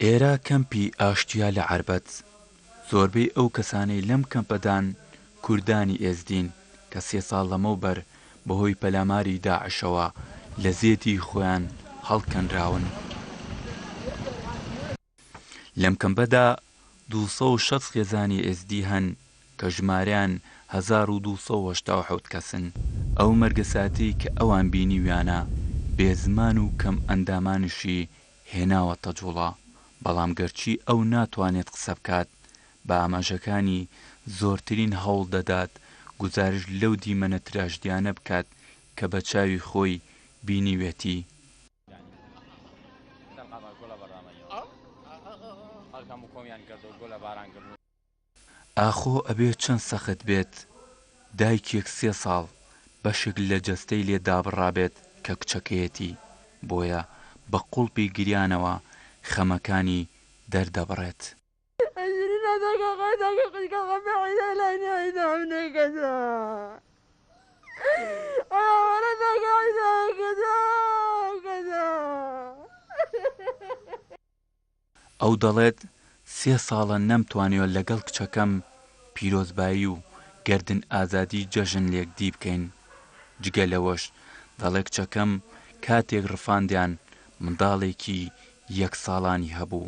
ئێرە کەمپی ئاشتیە لە عەربەت زۆربەی ئەو کەسانەی لەم کەمپەدان کوردانی ئێزدین کە سێ ساڵ لەمەوبەر بەهۆی پەلاماری داعشەوە لە زێدی خۆیان هەڵکەنراون. لەم کەمپەدا دوو سەد و شەست خێزانی ئێزدی هەن کە ژمارەیان هەزار و دوو سەد و هەشتا و حەوت کەسن. ئەو مەرگە ساتەی کە ئەوان بینیویانە، بێ زمان و کەم ئەندامانیشی هێناوەتە جوڵە، بەڵام گەرچی ئەو ناتوانێت قسە بکات، بە ئاماژەکانی زۆرترین هەوڵ دەدات گوزارشت لەو دیمەنە تراژدیانە بکات کە بە چاوی خۆی بینیوێتی. ئاخۆ ئەبێ چەند سەخت بێت دایکێک سێ ساڵ بەشێک لە جەستەی لێ دابڕابێت کە کچەکەیەتی، بۆیە بە قوڵپی گریانەوە خەمەکانی دەردەبڕێت. ئەو دەڵێت، سێ ساڵە نەمتوانیوە لەگەڵ کچەکەم پیرۆزبایی و گەردن ئازادی جەژن لێکدی بکەین، جگە لەوەش دەڵێت کچەکەم کاتێک رفاندیان منداڵێکی یەک ساڵانی هەبوو،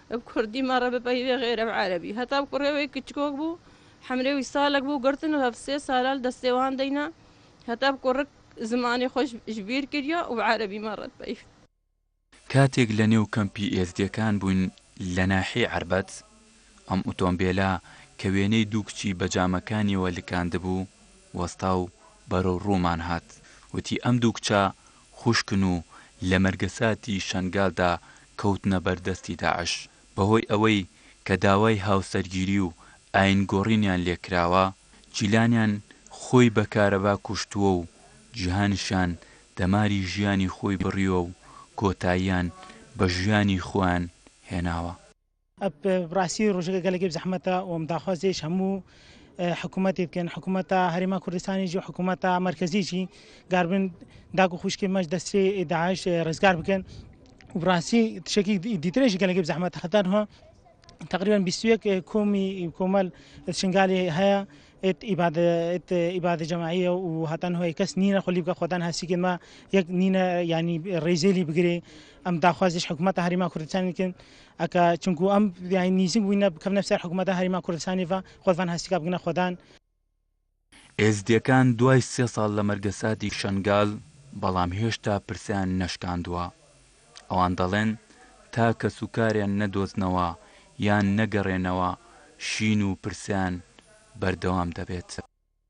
ە کوردی مەڕە بە پەیڤێ غێرە ڤە عەرەبی هەتاو کوڕێوەی کچکۆک بوو حەمرێ وی سالەک بوو گڕتن و هەڤ سێ سالال دەستێ وان دەینا هەتاو کوڕک زمانێ خوەش ژبیر کریا و عەرەبی مەڕە پەیڤ. کاتێک لە نێو کەمپی ئێزدیەکان بووین لە ناحیەی عەربەت ئەم ئوتۆمبێلە کە وێنەی دوو کچی بە جامەکانیەوە لکاندبوو وەستا و بەرەو ڕوومان هات وتی ئەم دوو کچە خوشکن و لە مەرگەساتی شەنگالدا کەوتنە بەر دەستی داعش. بەهۆی ئەوەی کە داوای هاوسەرگیری و ئایین گۆڕینیان لێ کراوە، جیلانیان خۆی بە کارەبا کوشتووە و جیهانشیان دەماری ژیانی خۆی بڕیوە و کۆتاییان بە ژیانی خۆیان هێناوە. بڕاستی ڕژگە گەلەگەب زەحمەتە وم داخوازیش هەموو حکوومەتی بکەن حکوومەتە هەرێما کوردستانیش و حکوومەتە مرکزیی گاربن داگ و خوشکی مەش دەستی داعش ڕزگار بکەن و بڕاستی تشکی دیترێژی گەلەگەب زەحمەت هەتان هۆ تقریبا 21 کۆمی کۆمەل شنگالی هەیە ئیبادە جەماعیە و هەتان هۆی کەس نینە خۆلی بکە خۆدان هەسیکن ما یەک نینە ینی ڕێزێلی بگرێ ئەم داخوازیش حکوومەت هەریما کوردستانیکن ئەکا چونکوو ئەم یانی نیزیک بووینە بکەفنە سەر حکوومەتا هەریما کوردسانی ڤە خۆدڤان هەسیکا بگنە خۆدان. ئێزدیەکان دوای سێ ساڵ لە مەرگەساتی شەنگال بەڵام هێشتا پرسەیان نەشکاندوە ئەوان دەڵێن تا کەسوکاریان نەدۆزنەوە یان نەگەرێنەوە شین و پرسەیان بەردەوام دەبێت.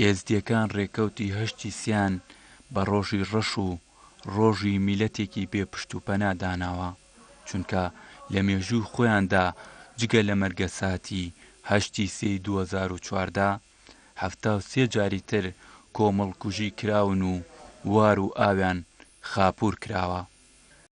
ئێزدیەکان ڕێکەوتی هەشتی سیان بە ڕۆژی ڕەش و ڕۆژی میلەتێکی بێ پشت و پەنا داناوە، چونکە لە مێژووی خۆیاندا جگە لە مەرگە ساتی هەشتی سێی دوو هەزار و چواردە، حەفتا و سێ جاری تر کۆمەڵکوژی کراون و وار و ئاویان خاپوور کراوە.